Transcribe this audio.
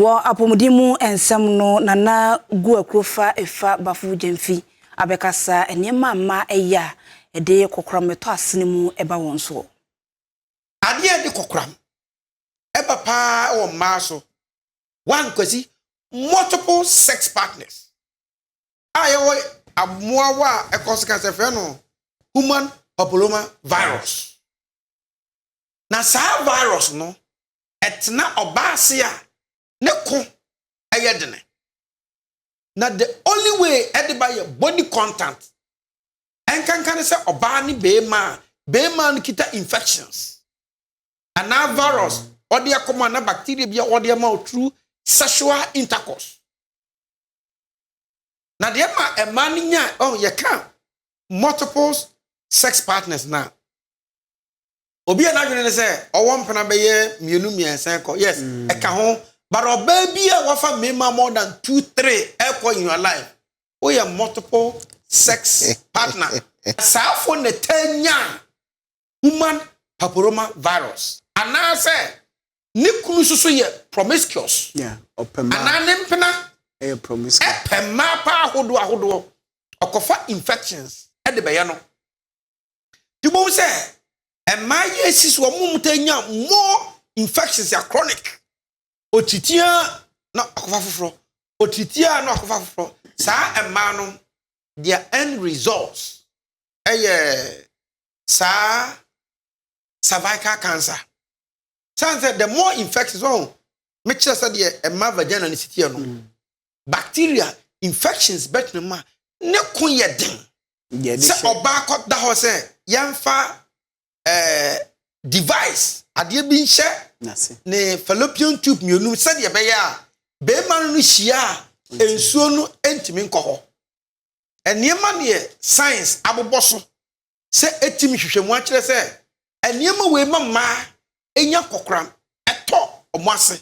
Wɔ apɔmuden mu nsɛm no Nana Guakuro fa Efa Bafo Gyamfi abɛkasa nneɛma a mmaa yɛ a ɛde kokoram ɛtɔ asene mu ba wɔn soɔ. Adeɛ a ɛde kokoram ba pa ara wɔ mmaa so, one Kwasi, multiple sex partners a yɛwɔ mmoawa a ɛkɔso ka sɛ frɛ no human papilloma virus. Na saa virus no, ɛtena ɔbaa ase a, ne ko yɛ dene. Na the only way ɛde ba yɛ body contact. Ɛnkanka ne sɛ ɔbaa ne beema a, beema no kita infections. Anaa virus ɔde akɔm anaa bacteria bi a ɔde ama wo through sexual intercourse. Na deɛ ma ɛmaa no nya, oh, yɛka multiple sex partners na obi a n'adwene ne sɛ ɔwɔ mpena bɛyɛ mmienu mmiɛnsa kɔ yes mm. ɛka ho but ɔbaa bi a wafa mmarima more than two three ɛkɔ in your life woyɛ multiple sex partner asaafo na ɛtaa nya human paporoma virus anaasɛ ne kunu soso yɛ promiscuous anaa ne mpena ɛpɛ mmaa paa ahodoɔ ahodoɔ ɔkɔfa infections ɛde bɛyɛ no. nti bohu sɛ ɛmaa yɛ si so wɔn mu ta nya more infections a chronic otitiaa na akɔfa foforɔ otitiaa na akɔfa foforɔ saa ɛmaa no their end results ɛyɛ saa cervical cancer san sɛ the more infections wɔn mekyerɛ sɛ deɛ ɛma vagina ne sitiɛ no. Mm. bacteria infections bɛtena mu a, ne ko yɛ den. Sɛ ɔbaa kɔ da hɔ sɛ yɛnfa eh, device, adeɛ bi nhyɛ ne fallopian tube mmienu sɛdeɛ ɛbɛyɛ a barima no no hyia a nsuo no ntumi nkɔ hɔ. Nneɛma deɛ science abobɔ so sɛ ɛtumi hwehwɛ mu akyerɛ sɛ nneɛma wei ma mmaa ɛnya kɔkoram, ɛtɔ wɔn ase.